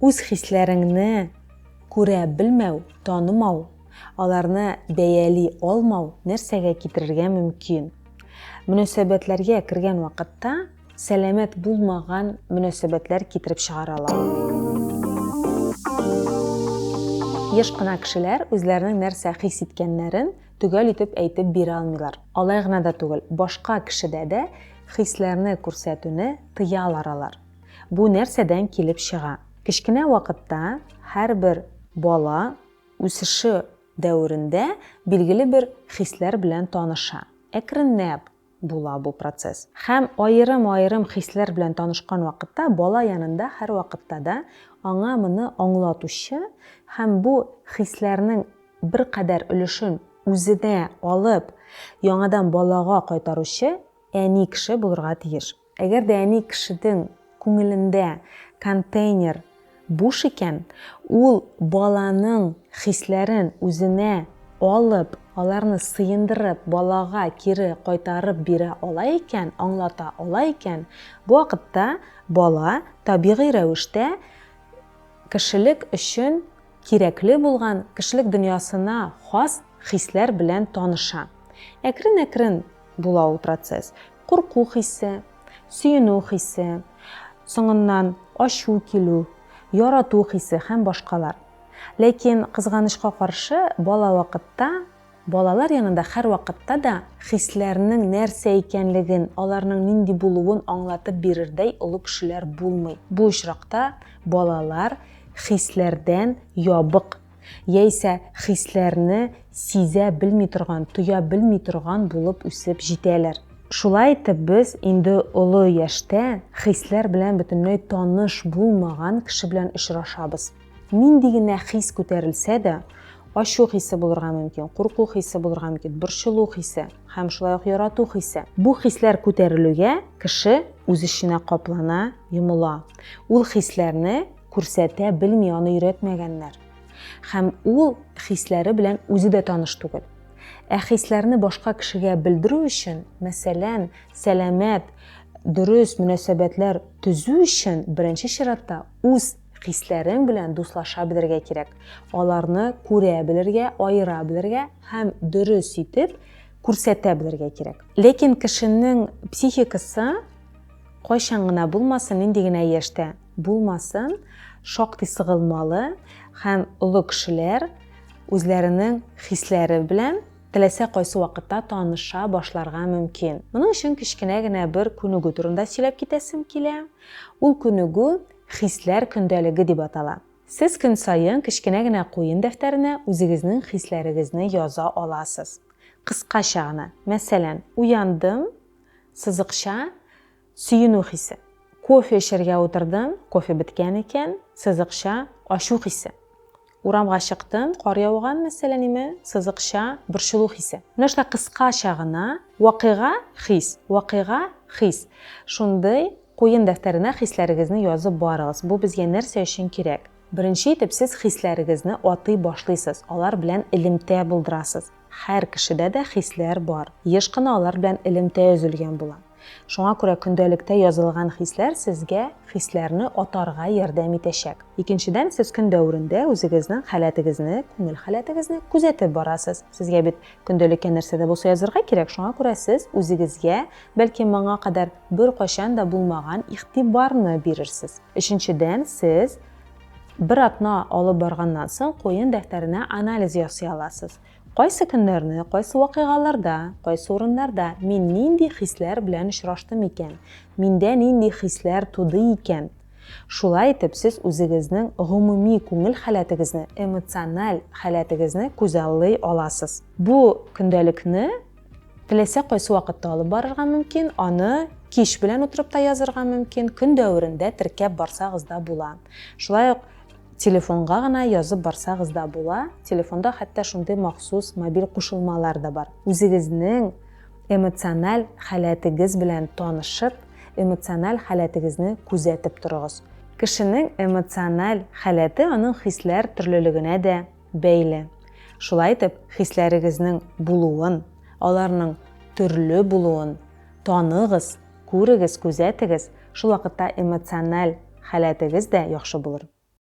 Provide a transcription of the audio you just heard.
Үз хисләреңне күрә белмәү, танымау, аларны бәяли алмау нәрсәгә китерергә мөмкин? Мөнәсәбәтләргә кергән вакытта сәламәт булмаган мөнәсәбәтләр китереп чыгаралар. Еш кына кешеләр үзләренең нәрсә хис иткәннәрен төгәл итеп әйтеп бирә алмыйлар. Алай гына да түгел, башка кешедә дә хисләрне күрсәтүне тыялар алар. Бу нәрсәдән килеп чыга? Кечкенә вакытта һәрбер бала үсеше дәверендә билгеле бер хисләр белән таныша. Әкренләп була бу процесс. Һәм аерым-аерым хисләр белән танышкан вакытта бала янында һәрвакытта да аңа моны аңлатучы һәм бу хисләрнең беркадәр өлешен үзенә алып, яңадан балага кайтаручы әни кеше булырга тиеш. Әгәр дә әни кешедең күңелендә контейнер буш икән, ул баланың хисләрен үзенә алып, аларны сыендырып, балага кире кайтарып бирә ала икән, аңлата ала икән, бу вакытта бала табигый рәвештә кешелек өчен кирәкле булган, кешелек дөньясына хас хисләр белән таныша. Әкрен-әкрен була ул процесс. курку хисе, сөенү хисе, соңыннан ачу килү, ярату хисе һәм башкалар. Ләкин, кызганычка каршы, бала вакытта, балалар янында һәрвакытта да хисләрнең нәрсә икәнлеген, аларның нинди булуын аңлатып бирердәй олы кешеләр булмый. Бу очракта балалар хисләрдән ябык. Яисә хисләрне сизә белми торган, тоя белми торган булып үсеп җитәләр. Шулай итеп, без инде олы яшьтә хисләр белән бөтенләй таныш булмаган кеше белән очрашабыз. Нинди генә хис күтәрелсә дә, ачу хисе булырга мөмкин, курку хисе булырга мөмкин, борчылу хисе һәм шулай ук ярату хисе. Бу хисләр күтәрелүгә кеше үз эченә каплана, йомыла. Ул хисләрне күрсәтә белми аны өйрәтмәгәннәр. Хәм ул хисләре белән үзе дә таныш түгел. Ә хисләрне башка кешегә белдерү өчен, мәсәлән, сәламәт, дөрес мөнәсәбәтләр төзү өчен беренче чиратта үз хисләрең белән дуслаша белергә кирәк. Аларны күрә белергә, аера белергә һәм дөрес итеп күрсәтә белергә кирәк. Ләкин кешенең психикасы кайчан гына булмасын, нинди генә яшьтә, Булмасын, шактый сыгылмалы һәм олы кешеләр үзләренең хисләре белән теләсә кайсы вакытта таныша башларга мөмкин. Моның өчен кечкенә генә бер күнегү турында сөйләп китәсем килә. Ул күнегү хисләр көндәлеге дип атала. Сез көн саен кечкенә генә куен дәфтәренә үзегезнең хисләрегезне яза аласыз. Кыскача гына, мәсәлән, уяндым, сызыкча, Сөенү хисе. Кофе эчәргә утырдым, кофе беткән икән, сызыкча, ачу хисе. Урамга чыктым, кар яуган, мәсәләниме, сызыкча, борчылу хисе. Менә шулай кыскача гына вакыйга, хис, вакыйга, хис. Шундый куен дәфтәренә хисләрегезне язып барыгыз. Бу безгә нәрсә өчен кирәк? Беренче итеп, сез хисләрегезне атый башлыйсыз, алар белән элемтә булдырасыз. Һәр кешедә дә хисләр бар, еш кына алар белән элемтә өзелгән була. Шуңа күрә көндәлектә язылган хисләр сезгә хисләрне атарга ярдәм итәчәк. Икенчедән, сез көн дәверендә үзегезнең халәтегезне, күңел халәтегезне күзәтеп барасыз. Сезгә бит көндәлеккә нәрсә дә булса язырга кирәк, шуңа күрә сез үзегезгә, бәлки, моңа кадәр беркайчан да булмаган игътибарны бирерсез. Өченчедән, сез Бер атна алып барганнан соң куен дәфтәренә анализ ясый аласыз. Кайсы көннәрне, кайсы вакыйгаларда, кайсы урыннарда мин нинди хисләр белән очраштым икән, миндә нинди хисләр туды икән? Шулай итеп, сез үзегезнең гомуми күңел халәтегезне, эмоциональ халәтегезне күзаллый аласыз. Бу көндәлекне Теләсә кайсы вакытта алып барырга мөмкин, аны кич белән утырып та язырга мөмкин, көн дәверендә теркәп барсагыз да була. Шулай ук телефонга гына язып барсагыз да була. Телефонда хәтта шундый махсус мобиль кушылмалар да бар. Үзегезнең эмоциональ халәтегез белән танышып, эмоциональ халәтегезне күзәтеп торыгыз. Кешенең эмоциональ халәте аның хисләр төрлелегенә дә бәйле. Шулай итеп, хисләрегезнең булуын, аларның төрле булуын таныгыз, күрегез, күзәтегез, шул вакытта эмоциональ халәтегез дә яхшы булыр.